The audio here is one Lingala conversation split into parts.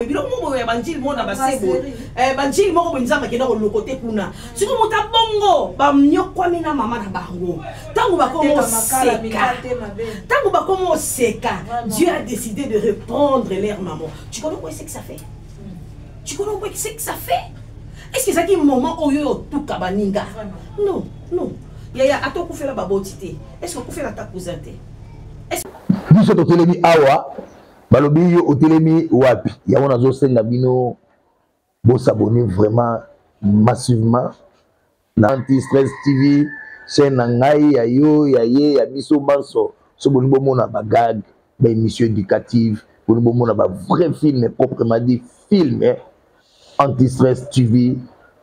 biloko moko ya banjili moko na basebo eh, banjili moko boye nzambe akenda koloko te kuna siko moto abongo banyokwami na mama na bango ntango bakoma oseka ntango bakoma oseka dieu a décidé de reprendre leur maman tu connais quoi c'est que ça fait tu connais quoi c'est que ça fait est ce que ezalaki moment oyo oyo otuka baninga non non yaya ata okufela baboti te est ce que okufela ata cousin te biso totelemi awa balobi yo otelemi wapi yango nazosenga bino bosabone vraiment massivement na anti stress tv chaîne na ngai ya yo ya ye ya biso banso so boni bomona bagage ba émission éducative boni bomona ba vrai film proprement dit film eh? anti stress tv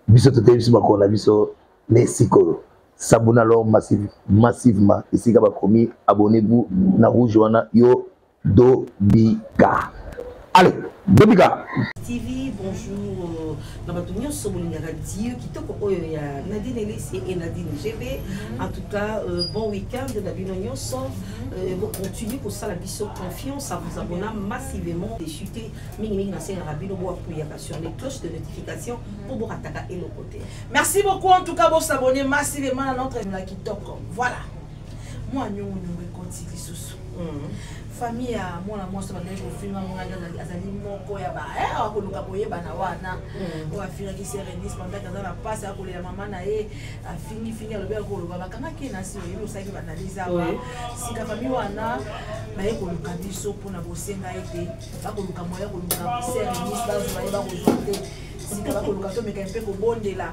biso toteyi biso makolo na biso nde sikolo sabona alors massive, massivement esika bakomi abonnez-vous na rouge wana yo Dobika. Allez, Dobika. TV, bonjour. Na bato nyonso bolingaka Dieu kitoko oyo ya Nadine Elisi et Nadine GB. Mhm. En tout cas, euh, bon week-end na bino nyonso. Euh, bo continue kosala biso confiance à vous abonner massivement et chuter mingi mingi na senga bino bo apuyaka sur les cloches de notification pour bo rataka eloko te. Merci beaucoup en tout cas bo s'abonner massivement à notre na kitoko. Voilà. mwa nyongo nyongo ekoti lisusu hmm. famille ya mwana mwasi bandaki kofinga mwana azali moko ya ba eh, akoluka koyebana wana hmm. oyo afingaki serenis pandaki aza na mpasi akolela mama na ye afingifingi alobi akoloba bakangaki na si oyebi osalaki baanalyse awa sika famille wana baye koluka biso mpona bosenga ete bakoluka moya koluka serenis bazwa ye bakozwa te sika bakoluka tomeka mpe kobondela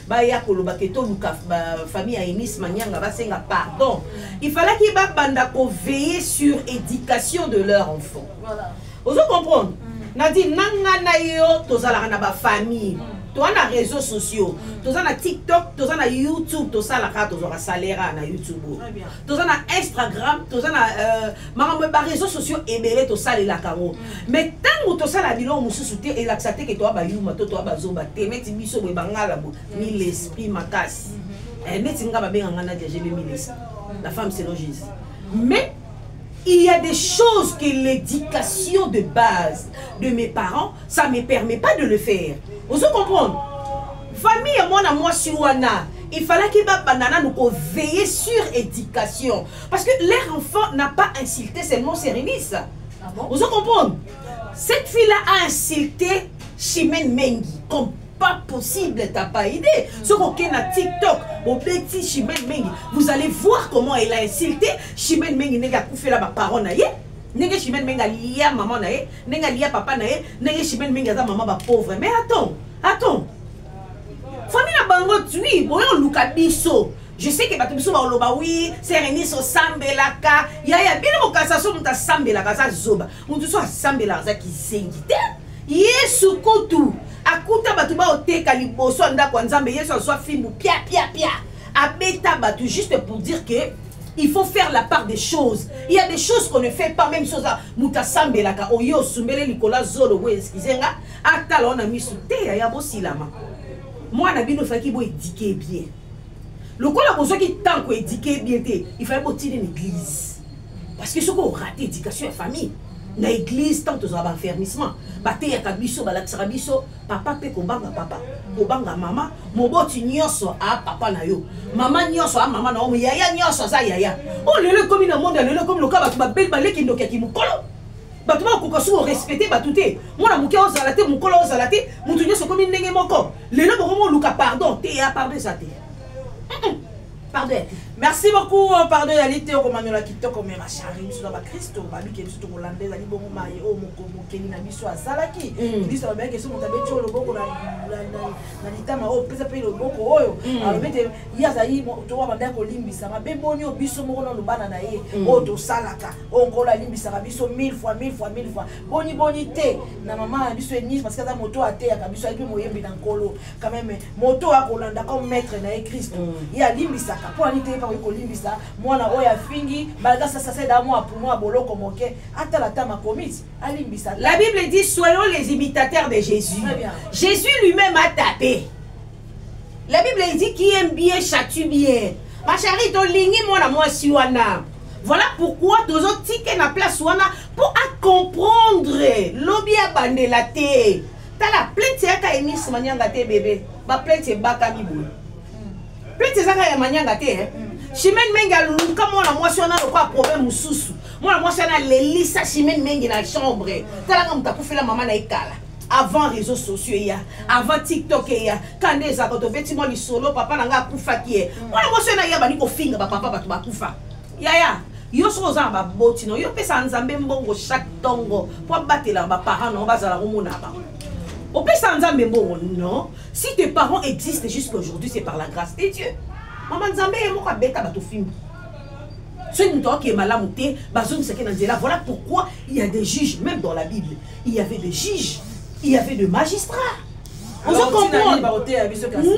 baya koloba ke toluka famille ya enis manianga basenga pardon il falaki babanda koveille sur éducation de leur enfant voilà. ozo comprendre mm. nadi nanga na yo tozalaka na bafamille mm. toza na réseaux sociaux mm. toza na tiktok toza na youtube tosalaka tozwaka salaire na youtube toza na instagram toza na euh, makambo ya bareseau sociaux ebele tosalelaka yango mm. mai ntango tosala biloko mosusu te elakisa te ke toya bayuma to toya bazoba te neti biso boye bangala bo mm. mi l'esprit makasi mm-hmm. eh, neti nga babenga nga nadia jebe mi l'esprit mm. la femme selon jésus mais il y a des choses que l'éducation de base de mes parents ça me permet pas de le faire ozo comprendre famille ya mwana mwasi wana il fallaki babanda nanu koveille sur éducation Parce que leur enfant n'a pas insulté seulement Sérémis. Ah bon? Vous comprenez Cette fille-là a insulté Chimène Mengi comme pas possible, t'as pas idée. Mm. Ce qu'on a TikTok, au petit Chimène Mengi, vous allez voir comment elle a insulté Chimène Mengi, n'est pas fait là, ma parole, ndenge chimene menge alia mama na ye ndenge alia papa na ye ndenge chimene menge aza mama bapauvre mais attends attends famille na bango tui boye oluka biso je sais que bato biso baoloba wi sereniso osambelaka yaya bino bokasa so moto asambelaka aza zoba moto so asambelaka aza kizengi te yesu kutu akuta bato baoteka liboso ya ndako ya nzambe yesu azwa fimbu pia pia pia abeta bato juste pour dire que il faut faire la part des choses il y a des choses qu'on ne fait pas même chose moto asambelaka oye osumbele likolo azolo boye eskize nga atala wana miso te yaya bosilama mwana bino efaki boedike bien lokola bozwaki temps koedike bien te ifai botine na église parce que soki orate éducation ya famille na église ntango tozala baenfermissement bateyaka biso balakisaka biso papa mpe kobanga papa kobanga mama moboti nyonso a papa na yo mama nyonso a mama na yo yaya nyonso aza yaya oyo oh, lelo ekomi na monde ya lelo ekomi loka bato babeli baleki ndoki ya kimokolo bato bakokoka soki orespecte bato te mwana moke ozala te mokolo ozala te moto nyonso okomi ndenge moko lelo bokomi oluka pardon te ya pardon eza te pardon ya te merci beaucoup oh, pardon ezali te okomanyola kitoko me mashari biso na bakristo babike biso tokolanda ezali bongo maye oyo mokeli na biso asalaki mm. biso babelaki eso moto abeti oyo loboko na litama oyo pesa mpe loboko oyo mm. alobi ete ye azali towa bandaki kolimbisa mabe boni oyo biso moko na lobana na ye mm. oyo tosalaka oyo nkolo alimbisaka biso mille fois mille fois mille fois boni boni te na mama na biso enise parce que aza moto oyo ateyaka biso ayebi moyembi na nkolo quand même moto oyo akolanda comme maître na ye kristo mm. ye alimbisaka mpo ani teyeba oyi kolimbisa mwana oyo afingi malga sasaseda mwa pumo ya boloko moke atala ata makomisi alimbisa la bible dit soyons les imitateurs de jésus jésus lui-même a tapé la bible dit qui aime bien châtue bien ma chérie tolingi mwana mwasi wana voilà pourquoi tozo tike na place wana mpo acomprendre lobi ya bandela te tala plete yaka emis manyanga te bebe baplete ebakami boye plete ezaka ya manyanga te eh? chimene mengi aluka mwana mwasi wana lokola problème mosusu mwana mwasi wana alelisa chimene mengi na chambre talaka moto akufela mama na ye kala avant réseaux sociaux eya avant tiktok eya kande ezalaka tobeti mwa lisolo papa na ngai akufaki ye mm. mwana mwasi oyo naya bandi kofinga bapapa bato bakufa yaya yo soki oza na baboti no yo opesaka nzambe mbongo chaque ntongo mpo abatelaka baparent nango bazala komona bango opesaka nzambe mbongo non si tes parents existent jusqu'à aujourd'hui c'est par la grâce de dieu mama nzambe ye moko abeta bato fimbi soki moto akokee malamu te bazongisaki na nzela voilà pourquoi il y a des juges même dans la bible il y avait des juges il y avait des magistrats ozo comprendre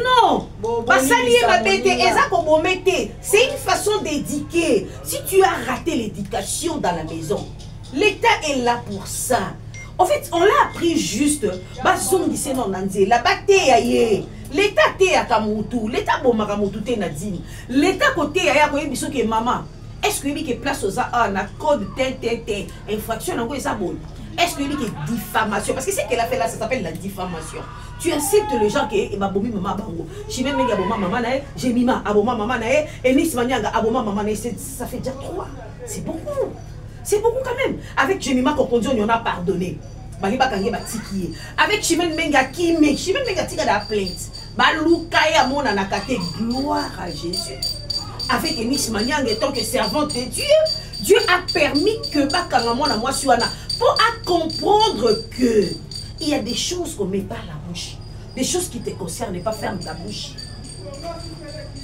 non basali ye mabe te eza kobome te c'est une façon d'édiquer si tu as raté l'éducation dans la maison l'état est là pour ça en fait on l'a appris juste bazongise no na nzela bateya ye leta ateyaka motu leta abomaka motu te na dini leta koteya ye akoyebi soki mama est ce que oyebi ke place oza awa na code te te te infraction yango eza boye est-ce que oyebi ke diffamation parce que ce qu'elle a fait là ça s'appelle la diffamation tu insultes les gens ke babomi mama bango chimie menge aboma mama na ye jemima aboma mama na ye enis manianga aboma mama na ye ça fait déjà trois c'est beaucoup c'est beaucoup quand même avec jemima kokonzo on a pardonné bali bakangi batiki ye avec chimene menge akimi chimene menge atika da plainte baluka ye amonanaka te gloire à jésus avec enis manianga etant que servante de dieu dieu a permis que bakanga mwana mwasi wana mpo acomprendre que il y a des choses qu'on met pas la bouche des choses qui te concernent pas ferme ta bouche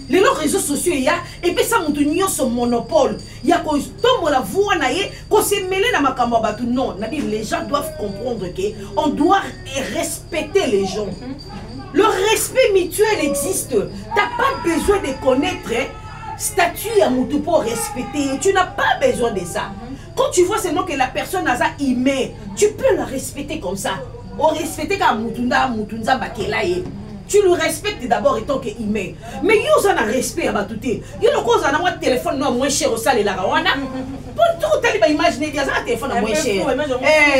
lelo réseau sociaux eya epesa moto nyonso monopole ya kotombola voi na ye kosemele na makambo ya bato non nabi les gens doivent comprendre que on doit respecter les gens mm -hmm. Le respect mutuel existe. T'as pas besoin de connaître hein, statut à Moutou pour respecter. Tu n'as pas besoin de ça. Quand tu vois seulement que la personne a ça aimé, tu peux la respecter comme ça. Au respecter comme Moutounda, Moutounda Bakelaye. tu le respectes d'abord etant que humain mais yo oza na respect ya bato te yo lokola ozala na mwa telefone no moins cher osalelaka wana mpo to otali baimage nedi aza na telefone ya moins cher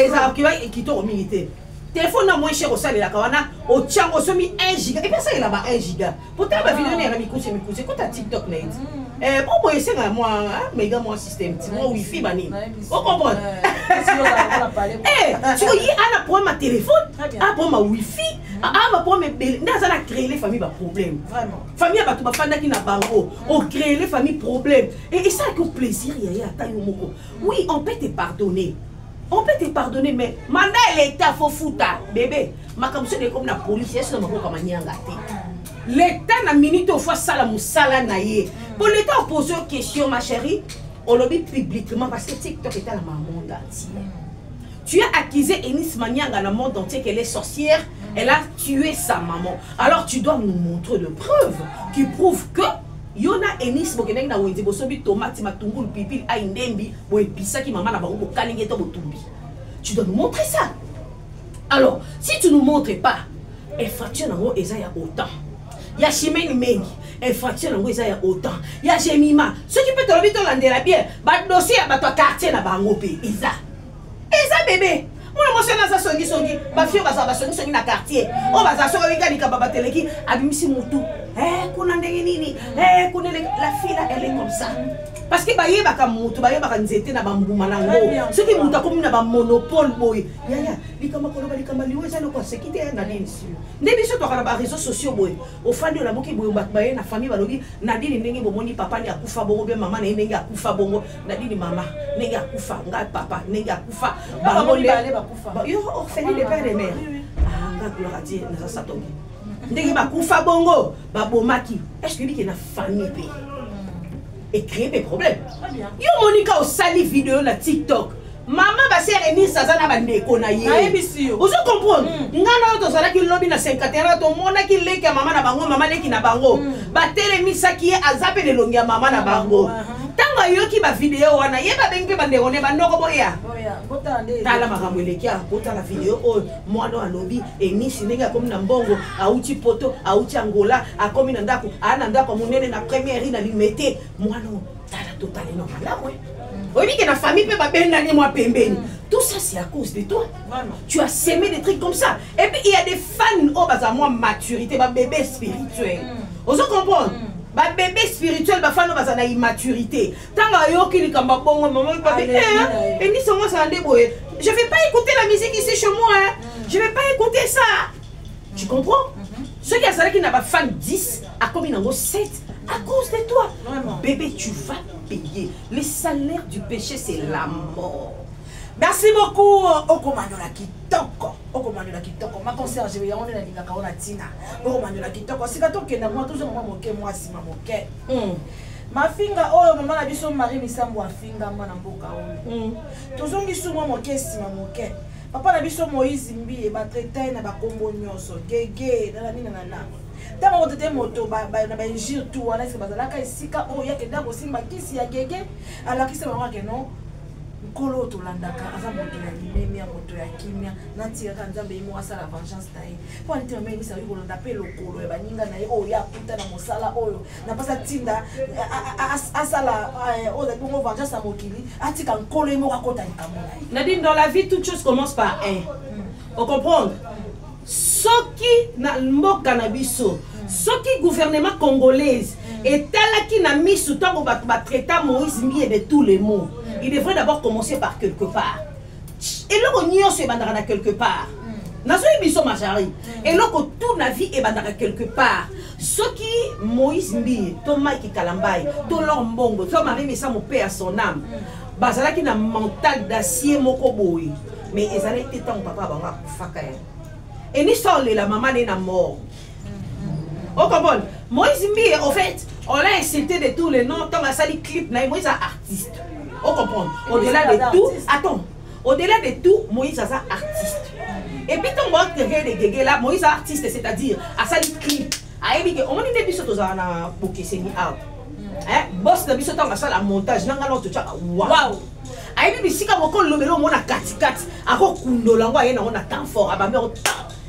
ezalaka kitoko mingi te telefone na moins cher osalelaka wana otiango osomi 1 giga epe asalela ba 1 giga potala bavideo ah. na yaka mikuse mikuse kota tiktok na ye ti mm. eh, mpo boye esengaka mwa ah, mega mwa système ti mwa wifi banini okomprendre siko ye ana problème ya telefone a problème ya wifi mm. a baproblème ebele nde aza na créele famille baproblème famille ya bato bafandaki na bango mm. ocréele famille problème esalaki o plaisir ya ye ata yo moko oui on peut te pardonner on peut te pardonner mais manda ya leta fo futa bebe makambo soki ekomi na polisi yesu na maboko ya manyanga te leta na minute ofo asala mosala na ye mpo leta opose yo question ma chérie olobi publiquement parce que tiktok etala ma monde entier tu as accusé enis manianga na monde entier qu'elle est sorcière elle a tué sa maman alors tu dois nous montrer de preuves qui prouvent que Yo na Eunice bokendaki na wenze bosombi tomate, matungulu, pilipili, ayi, ndembi, boepisaki mama na bango bokalingi to botumbi. Tu dois nous montrer ça. Alors, si tu nous montres pas, infraction nango eza ya autant. Ya chimene mengi, infraction nango eza ya autant. Ya Jemima, soki pe tolobi tolandela bien, ba dossier ya bato ya quartier na bango pe eza. eza bebe mwana mwasi wana aza songisongi bafio bazala basongisongi na quartier oyo bazala soki oyinga likambo bateleki abimisi motu eh, kuna ndenge nini eh, kuna la fila elle comme ça parce que bayebaka moto bayebaka nzete na bambuma na yango soki moto akomi na bamonopole boye yaya likambo koloba likambo liwa eza noko aseki te na nini nde biso toka na bareseau sociaux boye ofandi olamuki boye bato baye na famille balobi na nini ndenge bomoni papa nde akufa bongo be mama na ye ndenge akufa bongo nadine mama ndenge akufa ngai papa ndenge akufa bango nde yo orpheline de père et mère ah ngai gloire à dieu naza satongi ndenge bakufa bongo babomaki eske oyebi ke na famille mpe ecree mpe problème yo monika osali video na tiktok mama basere enise aza na bandeko na ye nayebisi yo ozo comprendre mm. nga na yo tozalaki lobi na 51 tomonaki leki ya mama na bango mama leki na bango mm. batelemisaki ye aza mpe na elongi ya mama na bango uh -huh. ntango ayoki bavideo wana ye babengi mpe bandeko ne bandoko boya tala makambo eleki a kotala video oyo mwana alobi enisi ndenge akomi na mbongo auti poto auti angola akomi na ndako aa na ndako monene na première na limete mwana tala totali na malamu eh. mm. oyebi ke na famille mpe babendani mwa pembeni mm. tout ça c'est à cause de toi Vraiment. tu as semé des trucs comme ça et puis il y a des fans oyo oh, baza mwa maturité babebe spirituel mm. ozo comprendre mm. babebe spirituel bafani oyo baza na immaturité ntango ayoki likambo bongo mama papi eh, enisa yango azala nde boye je vais pas écouter la musique ici chez moi hein. Mm. je vais pas écouter ça tu comprends mhm. soki azalaki na bafemme 10 akomi nango 7 à cause de toi Vraiment. bébé tu vas payer le salaire du péché c'est la mort merci beaucoup okomanyola kitoko okomanyola kitoko maconserge yango nde nalingaka ona ntina okomanyola kitoko sika tokenda mwa tozonga mwa moke mwa nsima moke hmm. mafinga oyo mama na biso marie misambo afingama na mboka oyo hmm. tozongi sumwa moke nsima moke papa na biso moïse mbiye batraitaye na bakombo nyonso gege nananinanana ntango akotete moto na bainjure tu wana ese bazalaka esika oyo yake nde akosimba kisi ya gege alakisi bango ake no nkolo oyo tolandaka aza moto ya limemia moto ya kimia natikaka nzambe ye moko asala vengeance na ye mpo anitema meyebisa oyi kolanda mpe lokolo ya baninga na ye oyo ye akuta na mosala oyo na mpasi atinda asala eh, oyo ezali bongo vengeance ya mokili atika nkolo ye moko akota likambo na ye nadi dans la vie toute chose commence par un hmm. ocomprendre soki na mboka na biso hmm. soki gouvernement congolaise hmm. etalaki na miso ntango bato batraita moïse mbiye de tous les mots il devrait d'abord commencer par quelque part eloko nyonso ebandaka na quelque part hmm. nazoyi biso majari hmm. eloko tout na vie ebandaka quelque part soki moïse mbiye to mike kalambai to lor mbongo to marie misa mope ya son ame hmm. bazalaki na mental d'acier moko boye mais ezalaki te ntango papa bango akufaka ye enisa olela mama ne na mort au Cambodge. Moïse Mbiye, au fait, on l'a insulté de tous les noms. Tant ça, les clips, Moïse est artiste. On comprend. Au-delà de tout, attends, au-delà de tout, Moïse est artiste. Et puis, tant que tu es de là, Moïse est artiste, c'est-à-dire, à ça, les clips. ayebi ke omoni nde biso tozala na bokeseni awa bos na biso ntango asala montage nanga nao totyaka wow ayebi bisika moko lobela omona katikati akokundola yango aye nango na temps fort abambi yango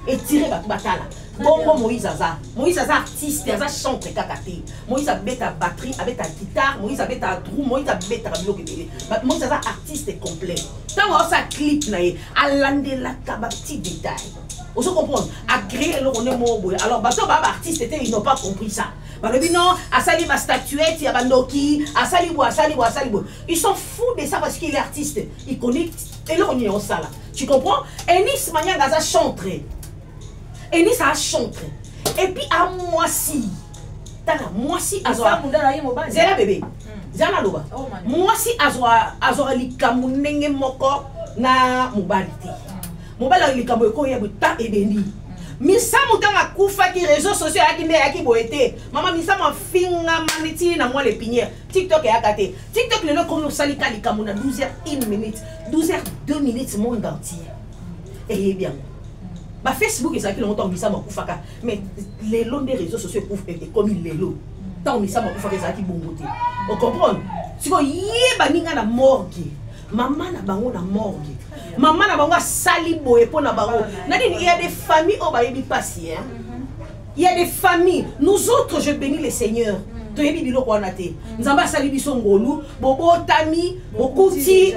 etire bato batala bongo moïse aza moïse aza artiste aza chantre kaka te moïse abeta batterie abeta guitare moïse abeta drou moïse abetaka biloko ebele moïse aza artiste complet ntango aosala clip na ye alandelaka bapti détail ozo comprendre agree eloko nde moko boye alors bato baa baartiste te ils n'ont pas compris ça balobi non asali bastatuette ya bandoki asali boye asali boye asali boye ils sont fous de ça parce qu'il est artiste il connaît eloko nini osala tu comprends enis manianga aza chantre enis a chantre et puis a mwasi tala mwasi azwa zela bebe zala naloba mwasi azwaka likambo ndenge moko na mobali te mobali ayo likambo ekoyo ya bota ebendi misamu ntango akufaki réseau sociaux ayaki nde ayaki boye te mama misamu afingama neti na mwa lepiniere tiktok eyaka te tiktok lelo ekomi osali ka likambo na 12 heures 1 minute 12 heures 2 minutes monde entier eyebi yango bafacebook ezalaki longo ntango misama akufaka mais lelo nde réseau sociaux ekomi lelo ntango misama akufaka ezalaki bongo te ocomprendre sikoyo ye baninga na morgue mama na bango na morgue mama na bango asali boye mpo na bango na nini ya de famille oyo bayebi mpasi Il y a des familles, nous autres, je bénis le Seigneur. Mm. toyebi biloko wana te mm. nzambe asali biso ngolu bobotami bokuti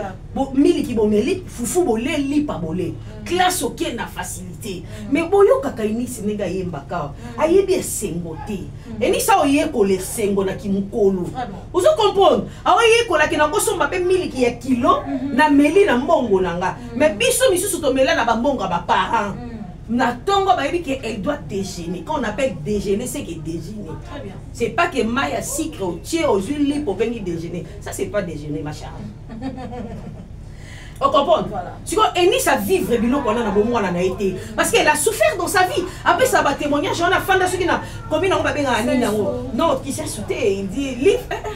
miliki bomeli fufu bole lipa bole mm. classe oke na facilité mais boyokaka enisi ndenge ayembaka ayebi esengo te enisi aoyekola esengo na kimokolo ozo comprendre aoyekolaki na kosomba mpe miliki ya kilo mm-hmm. na meli na mbongo na nga mais biso misusu tomela na bambongo ya baparent na tongo bayebi que elle doit déjeuner quand on appelle déjeuner c'est que déjeuner c'est pas que mai ya sucre otie ozwi lipo obengi déjeuner ça c'est pas déjeuner ma charge ocomprendre sikoyo enis avivre biloko wana na bomwana na ye te parce qu'elle a souffert dans sa vie apesa batémoignage wana afanda soki na komi nango babengaka nini yango non kisesu te il dit live eh, eh.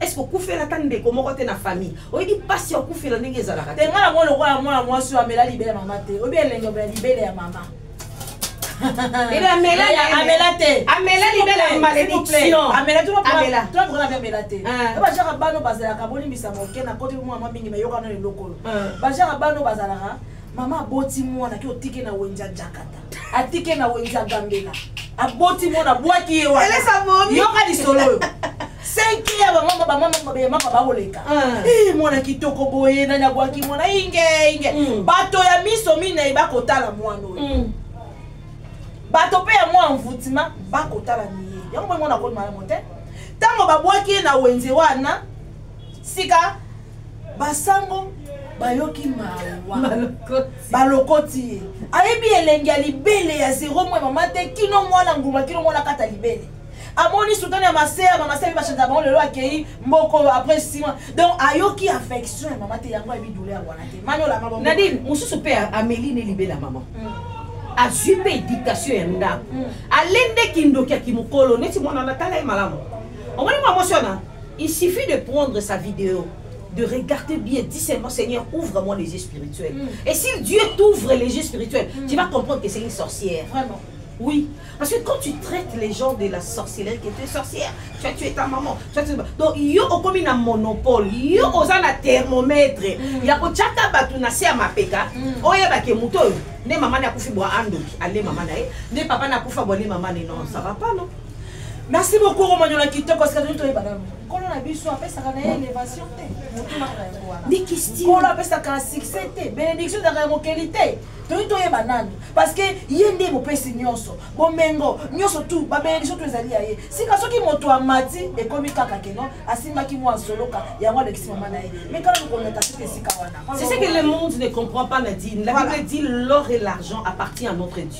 est-ce que okufela ata ndeko moko te na famille oyebi mpasi ya okufela ndenge ezalaka te nga yango lokola mwana mwasi oyo amela libele ya mama te oyebi elenge obela libele ya mama amela te amela libele ya malédiction amela tolakokana mpe amela te ah. bajaka bano bazalaka bolimbisa moke na koti mwa mwa mingi mayokana eloko oyo ah. bajaka bano bazalaka mama aboti mwana ke otike na wenja jakata atike na wenze agambela aboti mona bwaki ye wana yoka lisolo oyo senki ya bamama bamama ya mama bakoleka ah. eh, mwana kitoko boye nani abwaki mwana inge inge hmm. bato ya miso minei bakotala mwana oyo hmm. bato mpe ya mwa envoutima bakotala miye yango boye mwana akomi malamu te ntango babwaki ye na wenze wana sika basango bayoki mawa balokoti ye ayebi elengi ya libele ya zero mwa mama te kino mwana nguma kino mwana kata libele amoni sultani ya maseya bamaseya bachanza bango lelo akei mboko après sima donc ayoki affection ya mama te yango ayebi doule ya wana te maniolanadine mosusu mpe ameli ne libela mama mm. azwi mpe dictation ya ndako mm. alendeki ndoki ya kimokolo neti mwana natala ye malamu omoni mwa mwasi wana Il suffit de prendre sa vidéo, de regarder bien, dis seulement Seigneur, ouvre-moi les yeux spirituels. Mm. Et si Dieu t'ouvre les yeux spirituels, mm. tu vas comprendre que c'est une sorcière. Vraiment. Oui. Parce que quand tu traites les gens de la sorcellerie, que tu es sorcière, tu as tué ta maman, tu as tué... Donc, yo okomi na monopole, yo oza na thermomètre, mm. ya kochaka batu na se ya mapeka, mm. oyeba ke moto oyo, nde mama na akufi bwa andoki, ale mama na ye, nde papa na akufa bwa nde mama na ye, non, ça va pas, non? merci beaucoup romanyola kitoko sikatoni toyeba nano nkolo na biso apesaka na ye elevation te motunaka yango wanankolo apesaka na succès te bénédiction ezalaka ya mokeli te toyi toyeba nani parce que ye nde mopesi nyonso bomengo nyonso tu babénédiction to ezali ya ye sika soki moto amati ekomi kaka keno asimbaki mwa nsoloka yango alekisi mama na ye mais kaka kokoleta soki esika wana c'est ce que le monde ne comprend pas nadine la bible dit l'or et l'argent appartient à notre dieu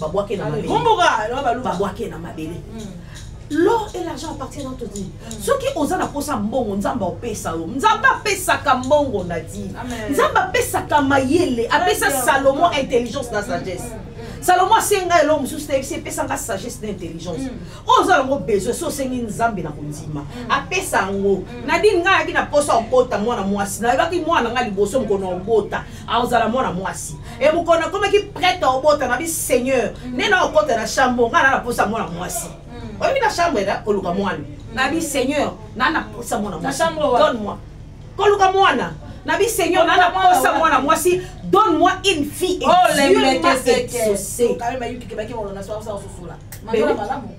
babwake na mabele babwake na mabele l'or et l'argent appartiennent entre dit mm. soki oza na mposa mbongo nzambe apesa yo nzambe apesaka mbongo na di nzambe apesaka mayele apesa salomo intelligence na sagesse mm, mm, salomo asenga eloko mosusu tayebisi epesanga sagesse na intelligence oyo oza yango besoin so osengi nzambe na kondima apesa yango nadine ngai ayaki na mposa okota mwana mwasi nayebaki mwana ngai liboso mokona okota aozala mwana mwasi e mokolo nakomaki prete obota na bi seigneur mm. nde na okota na chambre ngai na naposa mwana mwasi mm. oyebi na chambre na koluka mwana mm. na bi seigneur na naposa mwana mwasi donne moi koluka mwana na bi seigneur na naposa mwana mwasi donne moi une fille et oh, dieu m'a exaucé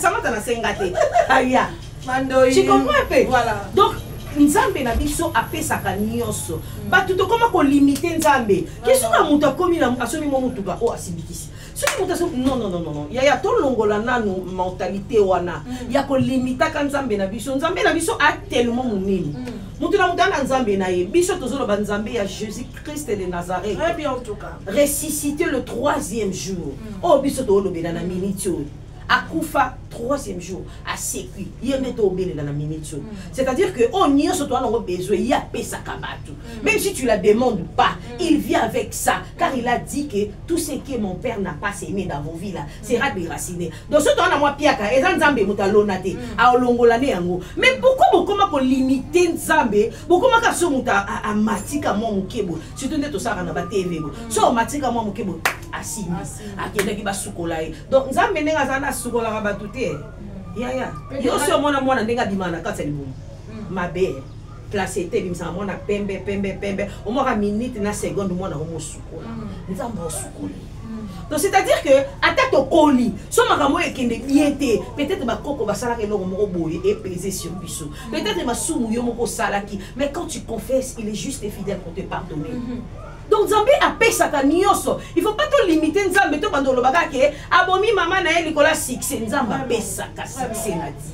samata na senga te aya tu comprends un peu voilà. donc nzambe na biso apesaka nyonso mm. bato tokoma kolimite nzambe ke soki na moto akomi asomi mwa motuka oyo asimbikisi soki moto asomi nonnnnn yaya tolongola nanu mentalité wana mm. ya kolimitaka nzambe na biso nzambe na biso atelema monene mm. moto na moto ana nzambe na ye biso tozoloba nzambe ya jésus Christ de Nazareth. Très bien en tout cas. Ressuscité le troisième jour. Mm. Oh, biso to lobe na minute oyo. Akufa troisième jour asekwi ye nde tobelela na minute oyo mm. c'est-à-dire que oyo oh, nyonso toa nango besoin ye apesaka bato mm. même si tu la demande pas mm. il vient avec ça car il a dit que tout ce que mon père n'a pas aimé dans vos vie là sera déraciné donc so toa na mwa piaka eza nzambe moto alona te aolongola nde yango mais pourquoi bokoma kolimite nzambe bokomaka so moto amatika mwa moke boye surtout nde tosalaka na batv boye so amatika mwa moke boye asimbi akendaki basukola ye donc nzambe ndenge azali asukolaka bato te yaya yo si omona mwana ndenge abimaka na kati ya libumu hmm. mabe place ete ebimisaka mwana pembe pembe pembe omwaka minute na seconde mwana yango mosukola hmm. nzambe osukoli hmm. donc c'est-à-dire que ata tokoli so makambo oyo ekende bien te peut-être bakoko basalaka eloko moko boye epese sur biso Peut-être masumu yo moko osalaki, mais quand tu confesses, il est juste et fidèle pour te pardonner. Mm -hmm. donc nzambe apesaka nyonso il faut pas tolimite nzambe to banda olobaka ke abomi mama na ye likolo ya succès nzambe apesaka succès na ti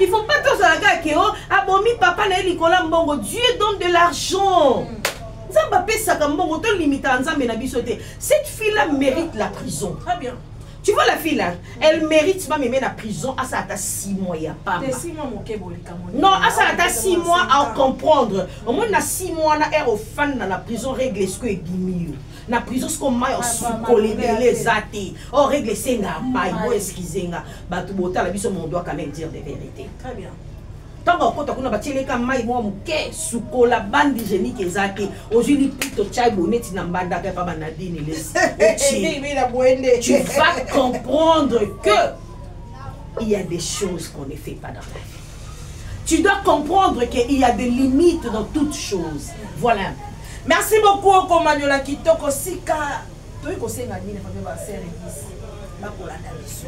il faut pas tozala kaka ke o abomi papa na ye likolo ya mbongo dieu donne de l'argent mm. nzambe apesaka mbongo tolimitaka nzambe na biso te cette fille là mérite la prison très bien Tu vois la fille là, elle mérite même même la prison à ça à 6 mois ya papa. T'es 6 mois mon kebo likamoni. Non, à ça à 6 mois à comprendre. Au moins na 6 mois na er au fan na la prison règle ce que gimio. Na prison ce qu'on m'a ah, su coller les zati. Oh règle senga mai, bo excusez nga. Ba tu bota la biso mon doit quand même dire des vérités. Très bien. ntango akota kuna batieleka mai mwa moke sukola bandi genike eza te ozwi liputa otyai boneti na mbandaka epa banadini lesi tu vas comprendre que il y a des choses qu'on ne fait pas dans la vie tu dois comprendre qu'il y a des limites dans toutes choses voilà merci beaucoup okomanyola kitoko sika toyei kosenga nini fabio basere bisi bakolanda biso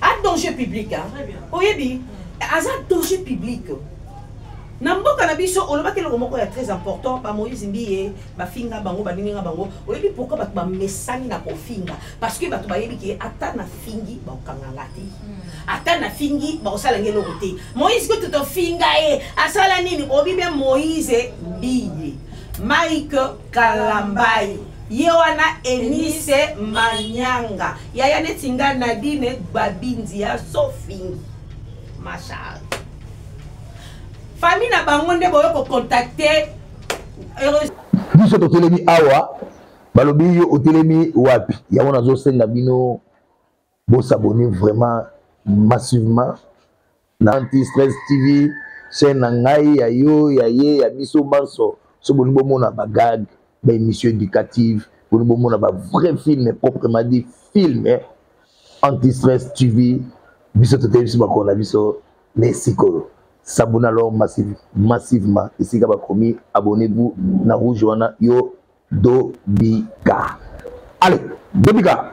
a danger public hein? oyebi aza danger public na mboka na biso olobaki eloko moko ya très important bamoïse mbiye bafinga bango baninga bango oyebi pourkui bato bamesani na kofinga parce que bato bayebi ke ata nafingi bakokanga nga te hmm. ata nafingi bakosala nge eloko te moïse kutu tofinga ye asala nini obi bien moïse mbiye mike kalambayi ye wana enise manyanga yaya neti nga nadine gbabindi ya sofingi machar famille na bango nde boyo kocontacte biso totelemi awa balobi yo otelemi wapi yango nazosenga bino Bo s'abonner vraiment massivement na anti stress TV chaîne na ngai ya yo ya ye ya biso banso so boni bomona ba gag ba émission éducative boni bomona ba vrai film proprement dit film eh? anti stress TV biso toteyi biso bakolo na biso ne sikoyo s'abonne alors massive, massivement esika bakomi abonnez-vous na rouge wana yo dobika allez dobika